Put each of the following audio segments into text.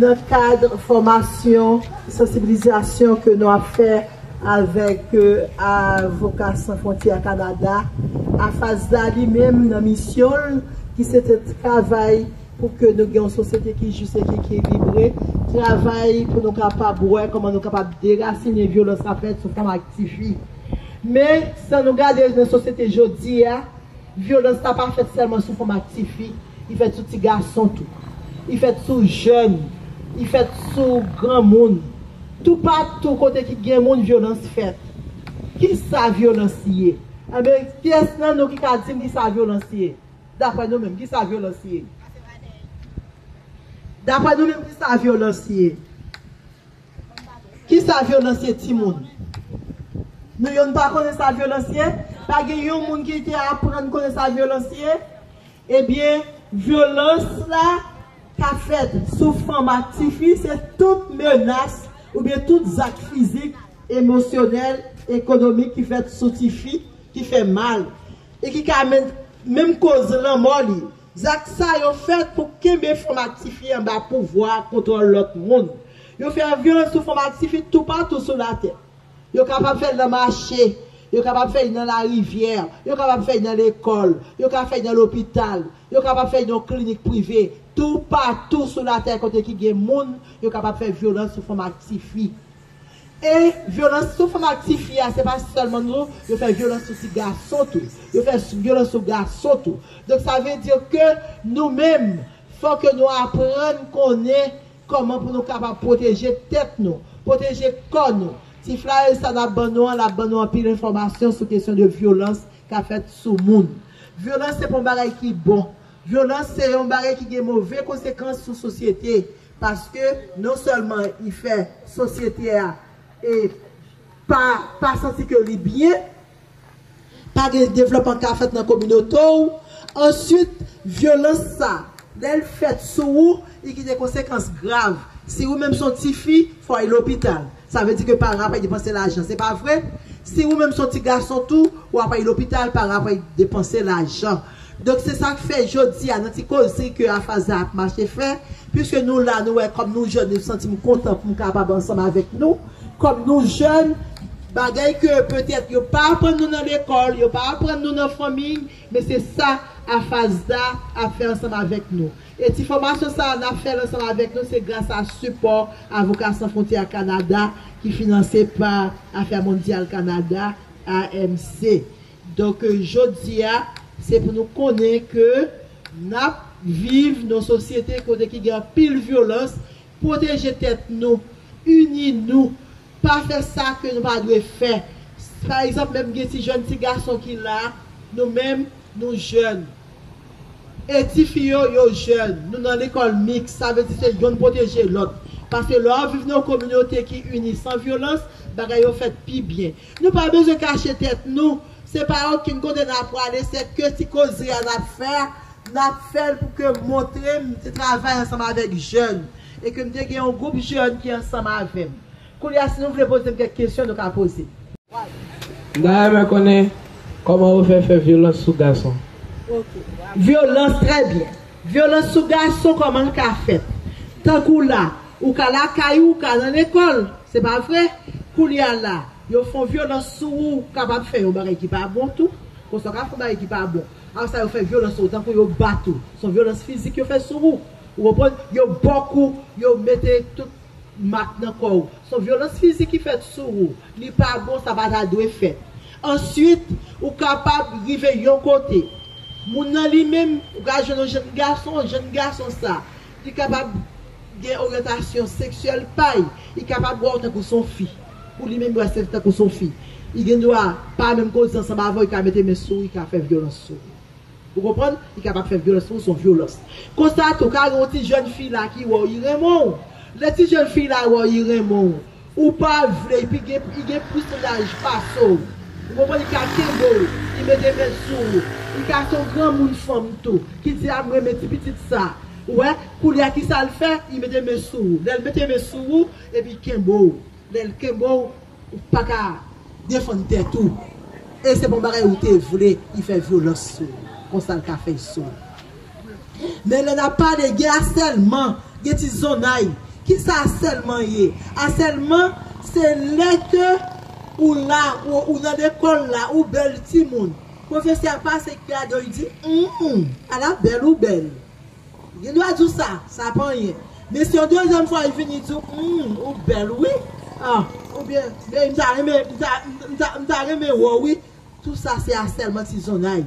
Nan kad fòmasyon sansibilizasyon ke nou ap fè avèk Avoka San Fwontyè Kanada, AFASDA li menm nan misyon l ki se te travay pou ke nou gen yon sosyete ki jis e ki ekilibre, travay pou nou kapab wè kòman nou kapab derasinen vyolans k ap fèt sou fanm ak tifi. Men, san nou gade nan sosyete jodi a, Vyolans la pa fèt sèlman sou fanm ak tifi, li fèt sou ti gason tou. Li fèt sou jèn, li fèt sou granmoun. Toupatou kote ki gen moun, vyolans fèt. Ki sa vyolans ye? Enben, kiyès nan nou ki ka di m ki sa vyolans ye? Dapre nou menm, ki sa vyolans ye? Dapre nou menm, ki sa vyolans ye? Kisa vyolans ye timoun? Nou youn pa konnen sa vyolans ye? Pa gen youn moun ki te aprann konnen sa vyolans ye? Ebyen vyolans la ka fèt sou fanm ak tifi se tout menas oubyen tout zak fizik, emosyonèl, ekonomik ki fèt sou tifi ki fè mal e ki ka menm koz lanmò li. Zak sa yo fèt pou kenbe fanm ak tifi anba pouvwa ak kontwòl lòt moun. Yo fè vyòl sou fanm ak tifi toupatou sou latè. Yo kapab fè l nan mache, yo kapab fè li nan larivyè, yo kapab fè li nan lekòl, yo ka fè li nan lopital, yo kapab fè li nan yon klinik prive. Toupatou sou latè kote ki gen moun, yo kapab fè vyolans sou fanm ak tifi. E, vyolans sou fanm ak tifi a, se pa sèlman tou, yo fè vyolans sou ti gason tou. Yo fè vyolans sou gason tou. Donk sa vle di ke nou menm, fò ke nou aprann konnen Kòman pou nou kapab pwoteje tèt nou, pwoteje kò nou? Ti flayè sa n ap ban nou an, l ap ban nou anpil enfòmasyon sou kesyon de vyolans k ap fèt sou moun. Vyolans se pa yon bagay ki bon. Vyolans se yon bagay ki gen move konsekans sou sosyete paske non sèlman li fè sosyete a pa santi ke li byen, Pa gen devlòpman ka fèt nan kominote w. Answit, vyolans sa, lè l fèt sou ou, li gen de konsekans grav. Si ou menm s on tifi, fò w ale lopital. Sa vle di ke paran ap depanse lajan, se pa vre? Si ou menm s on ti gason tou, w ap ale lopital, paran ap depanse lajan. Donk se sak fè jodi a nan ti koze ke Afaza ap mache fè, puiske nou la nou wè kòm nou jèn nou santim kontan poum kapab ansanm avèk nou, kòm nou jèn bagay ke petèt yo pa aprann nou nan lekòl, yo pa aprann nou nan fanmiy, men se sa Afaza ap fè ansanm avèk nou. E ti fòmasyon sa nap fèl ansanm avèk nou se gras a sipò Avoka San Fwontyè a Kanada ki finanse pa Afè Mondyal Kanada, AMC. Donk jodia se pou nou konnen ke nap viv nan sosyete kote ki gen anpil vyolans, pwoteje tèt nou, ini nou, pa fè sa ke nou pa dwe fè. Pa egzanp menm gen ti jèn ti gason ki la, nou menm nou jèn. E ti fi yo, yo jèn. Nou nan lekòl miks, sa vle di se yonn pwoteje lòt. Paske lè wap viv nan yon kominote ki ini san vyolans, bagay yo fèt pi byen. Nou pa bezwen kache tèt nou, se pa okenn kote nap prale se ke ti koze a nap fè a, nap fèl pou ke montre m te travay ansanm avèk jèn e ke m te gen yon gwoup jèn ki ansanm avè m. Koulye a si nou vle poze m kèk kesyon nou ka poze m. M ta renmen konnen kòman yo fè fè vyolans sou gason. Ok. Vyolans, trè byen. Vyolans sou gason kòman l ka fèt? Tankou la, Ou ka lakay ou, ou ka lan lekòl, se pa vre? Koulye a la, yo fon vyolans sou ou, ou kapab fè yon bagay ki pa bon tou. Konsa ou ka fon bagay ki pa bon. Apre sa yo fè vyolans sou ou, tankou yo bat ou. Son vyolans fizik yo fè sou ou. Ou konprann? Yo bòk ou, yo mete tout mak nan kò ou. Son vyolans fizik ki fèt sou ou. Li pa bon, sa pa ta dwe fèt. Answit, ou kapab rive yon kote. Moun nan li menm, ou ka jwenn yon jenn gason, jenn gason sa. Li kapab gen oryantasyon seksyèl pa y, li kapab wè w tankou s on fi. Pou li menm, li wè w tankou s on fi. Li gen dwa pa menm koze ansanm avè w, li ka mete men sou ou, li ka fè vyolans sou ou. Ou konprann? Li kapab fè vyolans sou ou, s on vyolans. Konsa tou, ka gen yon ti jèn fi la ki wè w, li renmen w. Lè ti jèn fi la wè w, li renmen w. Ou pa vle yp li gen plis laj pase w ou konprann li ka kenbe w li mete men l sou ou li ka se yon granmoun fanm tou ki di a m renmen ti pitit sa ou wè koulye a kisa l fè li mete men sou ou lè l mete men sou ou epi l kenbe w lè l kenbe w ou pa ka defann tèt ou e se pa yon bagay ou te vle li fè vyolans sou ou konsa l ka fè sou ou. Men lè nap pale gen asèlman, gen ti zonay. Kisa asèlman ye? Asèlman se lè ke ou la, ou nan lekòl la, ou bèl timoun. Pwofesè a pase gade w li di, Humm, ala bèl ou bèl. Gen dwa di w sa, sa pa anyen. Men se yon dezyèm fwa li vini di w, Humm, ou bèl wi. Oubyen, men m ta renmen, m ta renmen wè w wi. Tou sa se asèlman tizonnay.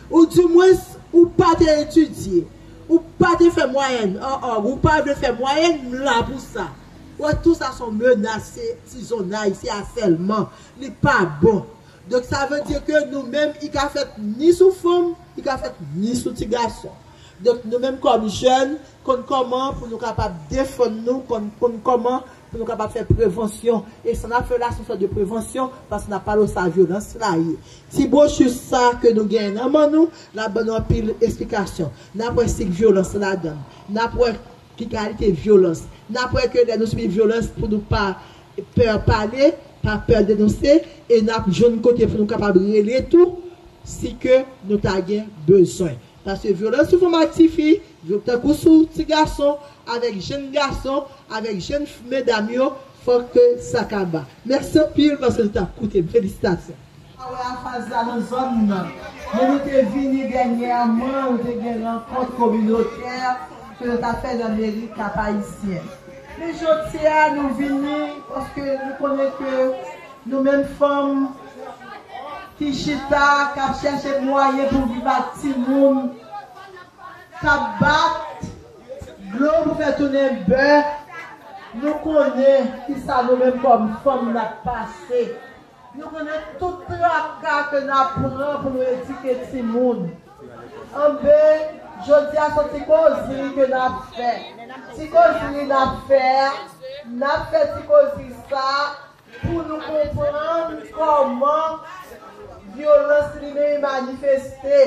Ou di mwens ou pa te etidye, ou pa te fè mwayèn, an an, ou pa vle fè mwayèn, m la pou sa. Ou wè tou sa son menas, se tizonnay, se asèlman, li pa bon. Donk sa vle di ke nou menm i ka fèt ni sou fanm, i ka fèt ni sou ti gason. Donk nou menm kòm jèn konn kòman pou nou kapab defann nou, konn kòman Pou nou kapab fè prevansyon. E sa n ap fè la se yon sòt de prevansyon paske n ap pale w sa vyolans la ye. Ti bwochi sa a ke nou genyen nan man nou, l ap ban nou anpil esplikasyon. N ap wè sik vyolans ladan l. N ap wè ki kalite vyolans. N ap wè ke lè nou sibi vyolans pou nou pa pè pale, pa pè denonse e n ap jwenn kote pou nou kapab rele tou si ke nou ta gen bezwen. Paske vyolans sou fanm ak tifi, tankou sou ti gason, avèk jenn gason, avèk jenn medam yo, fòk ke sa kaba. Mèsi anpil paske nou t ap koute m. Felisitasyon. Pa wè afaz la nan zòn nan, men nou te vini dènyèman nou te gen rankont kominotè ke nou ta fè nan meri Kap Ayisyen. Men jodi a nou vini paske nou konnen ke nou menm fanm, ki chita k ap chèche mwayen pou viv ak timoun k ap bat dlo pou fè tounen bè, nou konnen ki sa nou menm kòm fanm n ap pase. Nou konnen tout traka ke n ap pran pou nou edike timoun. Anben, jodi a son ti kozri ke n ap fè. Ti kozri n ap fè a, n ap fè ti kozri sa a. Pou nou konprann kòman vyolans li menm manifeste.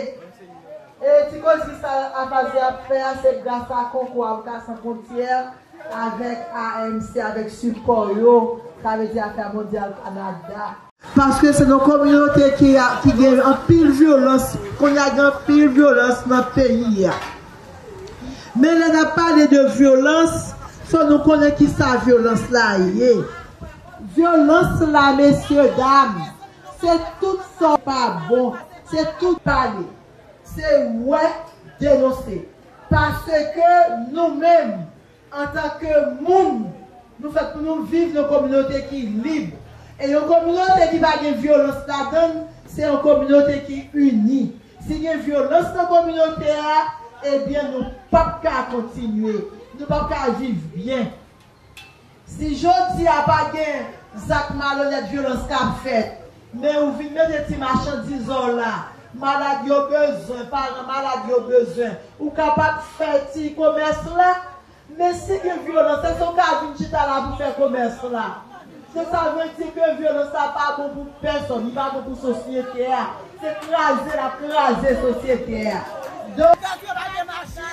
E ti koz ki sa Afazi ap fè a se gras a konkou Avoka San Fwontyè avèk AMC avèk sipò yo, sa vle di Afè Mondyal Kanada. Paske se yon kominote ki gen anpil vyolans, kounye a gen anpil vyolans nan peyi a. Men lè nap pale de vyolans fò nou konnen kisa vyolans la ye. Vyolans la mesye dam se tout sa w pa bon, se tout. Pale, se wè, denonse. Paske nou menm Antanke moun, nou fèt pou nou viv yon kominote ki lib. E yon kominote ki pa gen vyolans ladan l, se yon kominote ki ini. Si gen vyolans nan kominote a, ebyen nou p ap ka kontinye, nou p ap ka viv byen. Si jodi a pa gen zak malonèt, vyolans ka fèt. Men ou vin mete ti machandiz w la. Malad yo bezwen, paran malad yo bezwen. Ou kapab fè ti komès la. Men si gen vyolans, èske ou ka vin chita la pou fè komès la? Se sa vle di ke vyolans la pa bon pou pèsòn, li pa bon pou sosyete a. Se kraze l ap kraze sosyete a. Donk. Tank yo pa gen machin.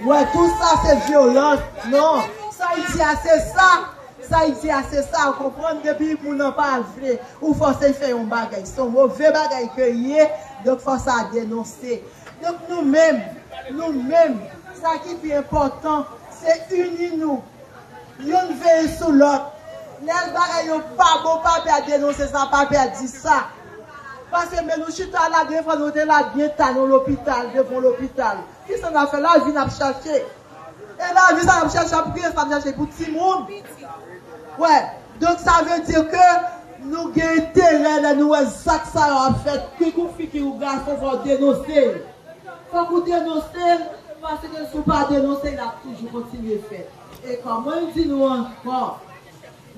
Wè tout sa se vyolans non sa li di a se sa sa li di a se sa ou konprann depi moun nan pa vle ou fòse l fè yon bagay son move bagay ke li ye donk fò sa denonse donk nou menm nou menm sa ki pi enpòtan se ini nou youn veye sou lòt lè bagay yo pa bon pa pè a denonse sa pa pè a di sa. Pase men nou chita la gen fwa nou te la gen ta nan lopital devan lopital kisa nap fè la vi nap chache e la vi sa nap chache ap gen sa nap chache pou ti moun wè donk sa vle di ke nou gen enterè lè nou wè zak sa yo ap fèt kik ou fi ki ou gason fòw denonse l fòk ou denonse l pase ke si ou pa denonse l ap toujou kontinye fèt e kòman m di nou ankò.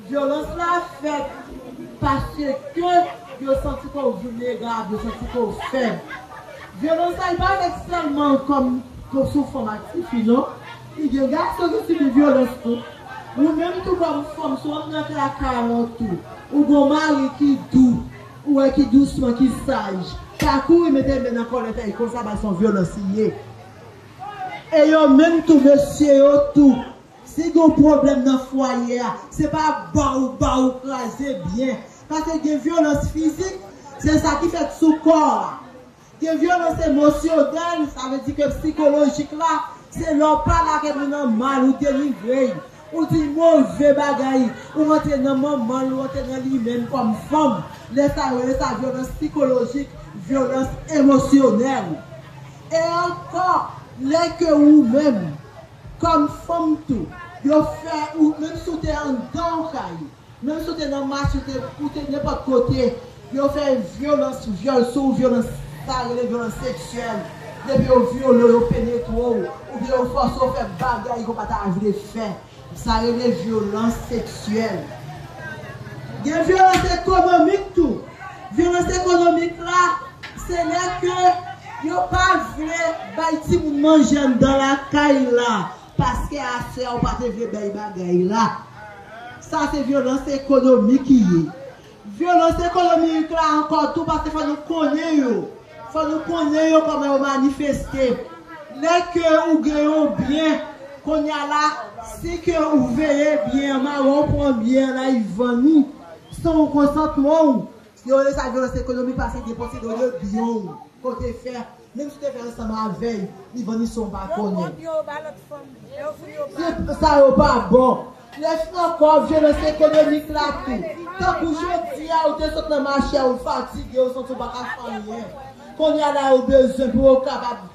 Vyolans la fèt paske ke yo santi ke w vilnerab, yo santi ke w fèb. Vyolans sa li pa fèt sèlman kòm ke w se w fanm ak tifi non. Li gen gason ki sibi vyolans tou. Ou menm tou kòm fanm si w rantre nan kay a kay a wont tou. Ou gen w mari ki dou, ou wè ki dousman, ki saj. Pa kouri mete men nan kòlèt èy konsa bay se yon vyolans li ye. E yo menm tou mesye yo tou Si gen yon pwoblèm nan fwaye a, se pa ap ba ou ba ou kraze byen. Pase gen vyolans fizik, se sa ki fèt sou kò a. Gen vyolans emosyonèl, sa vle di ke psikolojik la, se lè ou pa lage moun an mal, ou denigre l, ou di l move bagay, ou rantre nan manman l, ou rantre nan li menm kòm fanm. Lè sa yo rele sa vyolans psikolojik, vyolans emosyonèl. E ankò, lè ke ou menm. Kòm fanm tou, yo fè ou, menm si w te anndan w kay, menm si w te nan mach, ou te nenpòt kote, yo fè vyolans, vyòl sou ou, vyolans sa yo rele vyolans seksyèl, depi yo vyole w, yo penetre w, oubyen yo fòse w fè bagay ke w pa ta vle fè, sa rele vyolans seksyèl. Gen vyolans ekonomik tou. Vyolans ekonomik la se lè ke yo pa vle bay timoun manje anndan lakay la paske aswè a ou pa te vle bay bagay la. Sa se vyolans ekonomik ki ye. Vyolans ekonomiik la ankò tou paske fò nou konnen yo. Fò nou konnen yo kòman yo manifeste. Lè ke ou gen yon byen, kounye a la si ke ou veye byen an mawon ou pran byen an la yi vann ou. San ou konsantman ou, yo rele sa vyolans ekonomik pase depanse do de byen ou ke w te fè, menm si w te fè ansanm avè l, li vann li san w pa konnen. Tout sa yo pa bon. Plès ankò, vyolans ekonomik la tou. Tankou jodi a ou te sot nan mache a ou fatige, ou santi w pa ka fè anyen. Kounye a la ou bezwen pou ou kapab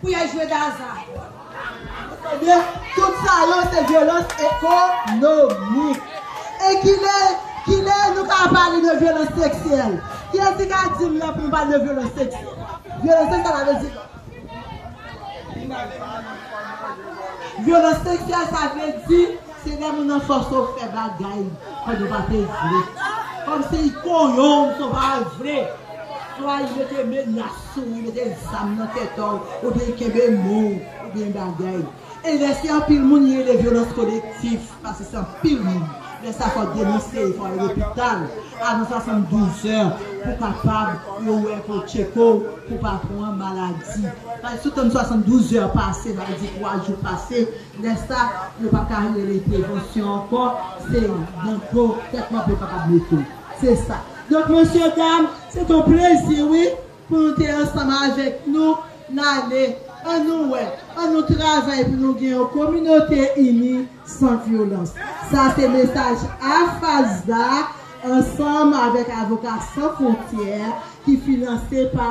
Kouyè jwe Gaza. Ebyen tout sa yo se vyolans ekonomik. E kilè kilè nou ka pale de vyolans seksyèl? Kilè ki ka di m lè pou nou pale de vyolans seksyèl? Vyolans seksyèl sa vle di Vyolans seksyèl sa vle di se lè moun nan fòse w fè bagay pandan w pa te vle. Kòmsi kouyè w se w pa vle. Swa li mete menas. Souri mete zam nan tèt w oubyen kenbe men w oubyen bagay e lè se anpil moun li rele vyolans kolektif paske se anpil moun lè sa fò denonse fò al lopital avan 72 zè pou kapab yo wè pou yo tcheke w pou pa pran maladi paske si w tann 72 zè pase n al di 3 jou pase lè sa yo pa ka rele prevansyon ankò se nan do tèt mòp yo kapab mete w. Se sa. Donk mesye dam, se t on plezi wi pou nou te ansanm avèk nou n ale an nou wè, an nou travay pou nou gen yon kominote ini san vyolans. Sa se mesaj AFASDA ansanm avèk Avoka San Fwontyè ki finanse pa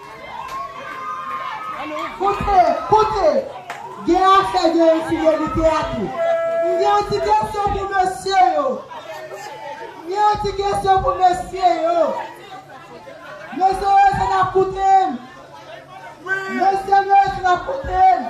Koute, koute! Gen afè gen enfidelite a tou. M gen yon ti kesyon pou mesye yo. M gen yon ti kesyon pou mesye yo. Mesye yo, èske n ap koute m? Mesye yo, èske n ap koute m?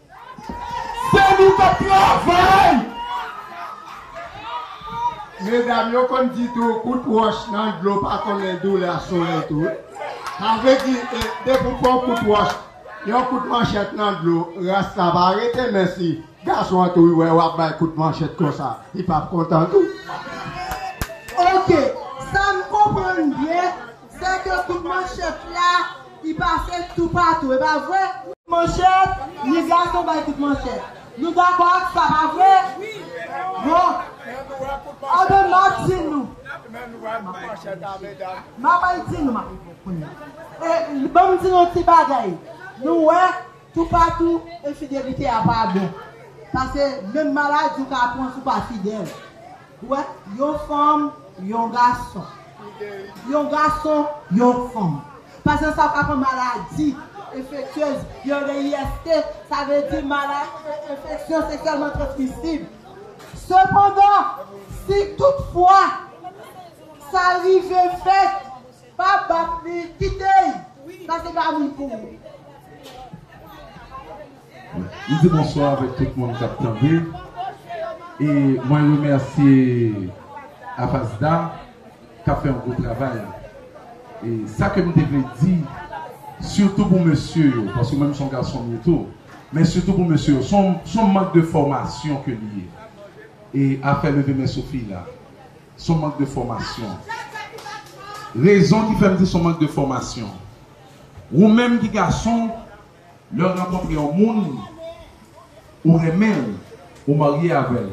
Se nou kap travay! Medam yo konn di tou kout wòch nan dlo pa konnen doulè solèy tou wi. Sa vle di depi ou pran yon kout wòch, yon kout manchèt nan dlo, ras la pa rete men si gason an tou wè wap bay kout manchèt konsa, li pap kontan tou. Ok, sa m konprann byen. Se de kout manchèt la ki pase toupatou, e pa vre? Manchèt, ni gason bay kout manchèt. Nou dakò ak sa, pa vre? Bon. Anben, m ap di nou. M ap al di nou, m ap rive kounye a. E, ban m di nou yon ti bagay. Nou wè, toupatou, enfidelite a pa bon. Pase, menm maladi ou ka pran si w pa fidèl. Dwèt yon fanm, yon gason. Yon gason, yon fanm. Pasyan sa pa pran maladi enfektyez, yon VIST, sa vle di enfeksyon seksyèlman transmisib. Sepandan, si tout fwa sa rive fèt, pa bat li, kite li, paske li pa moun pou ou. M di bonswa avèk tout moun kap tande e mwen remèsye Avasda kap fè yon gwo travay e sa ke m te vle di sitou pou mesye yo paske mwen m son gason m ye tou men sitou pou mesye yo son mank de fòmasyon ke li ye e afè leve men sou fi la son mank de fòmasyon rezon ki fè m di son mank de fòmasyon ou menm ki gason Lèw rankontre yon moun ou renmen l ou marye avèl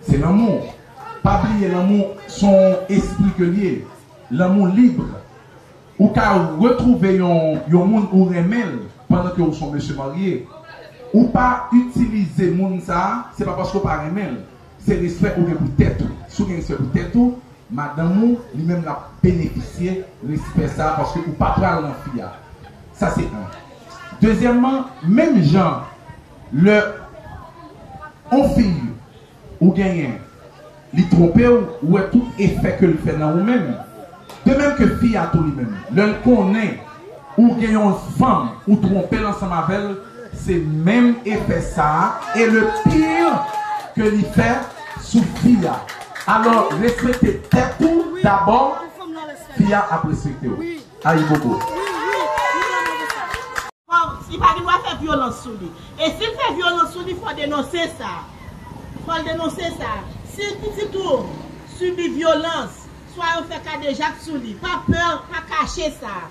se lanmou pa bliye lanmou son espri ke l ye lanmou libre ou ka retrouve yon yon moun ou renmen l pandan ke ou son mesye marye ou pa itilize moun sa se pa paske ou pa renmen l Se respè ou gen pou tèt ou. Si w gen respè pou tèt ou, madanm ou, li menm l ap benefisye respè sa a paske ou pa pral nan fi a. Sa se 1. Dezyèmman, menm jan lè yon fi ou genyen li twonpe w, ou wè tout efè ke l fè nan ou menm, De même que fi a tou li menm lèl konnen ou gen yon fanm ou tronpel ansanm avèl se menm efè sa et le pire que li fè sou fi a alors respekte tèt ou d'abord fi a ap respekte w Ayibobo. Li pa gen dwa fè vyolans sou li. E si l fè vyolans sou li fò denonse sa. Fò l denonse sa. Si pitit ou sibi vyolans Swa yo fè kadejak sou li. Pa pè, pa kache sa.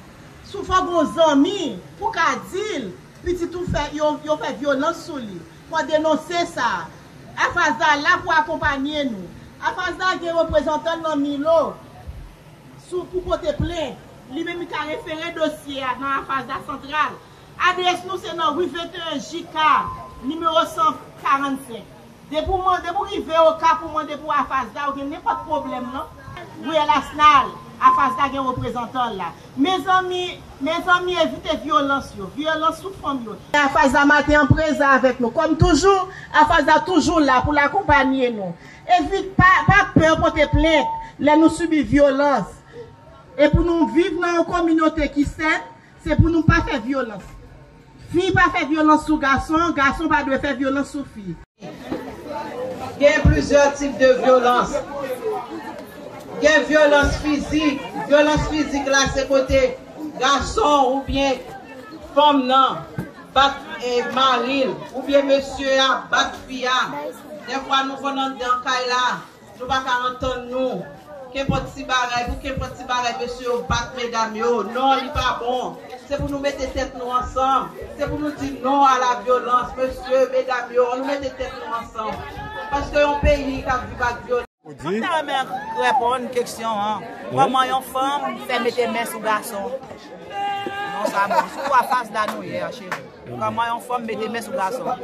Si w fè gon zanmi, pou w ka di l, pitit ou fè, yo, yo fè vyolans sou li. Fò w denonse sa. Afazda la pou akonpanye nou. Afazda gen reprezantan l nan Milo sou, pou pote plent. Li menm li ka refere dosye a nan Afazda santral. Adrès nou se nan Rue 21 JK Nimewo 145. Depi ou mande pou rive Okap ou mande pou AFASDA ou gen nenpòt pwoblèm nan Riyèl Asnal, AFASDA gen reprezantan l la. Mezanmi, mezanmi evite vyolans yo, vyolans sou fanm yo. AFASDA maten an prezan avèk nou. Kòm toujou, AFASDA toujou la pou l akonpanye nou. Evite, pa, pa pè pote plent lè nou sibi vyolans. E pou nou viv nan yon kominote ki sèn, Se pou nou pa fè vyolans. Fi pa fè vyolans sou gason, gason pa dwe fè vyolans sou fi. Gen plizyè tip de vyolans. Gen vyolans fizik. Vyolans fizik la se kote gason oubyen fanm nan bat mari l, oubyen mesye a bat fi a. Dèfwa nou konn andedan kay la, Nou pa ka antann nou. Kenpòt ti bagay pou kenpòt ti bagay mesye yo bat medam yo. Non li pa bon. Se pou nou mete tèt nou ansanm. Se pou nou di non a la vyolans. Mesye, medam yo, an nou mete tèt nou ansanm. Paske yon peyi kap viv ak vyolans. Mwen ta renmen reponn keksyon an Koman yon fanm fè mete men sou gason Non sa bon Sou afas la nou ye a cheri Koman yon fanm mete men sou gason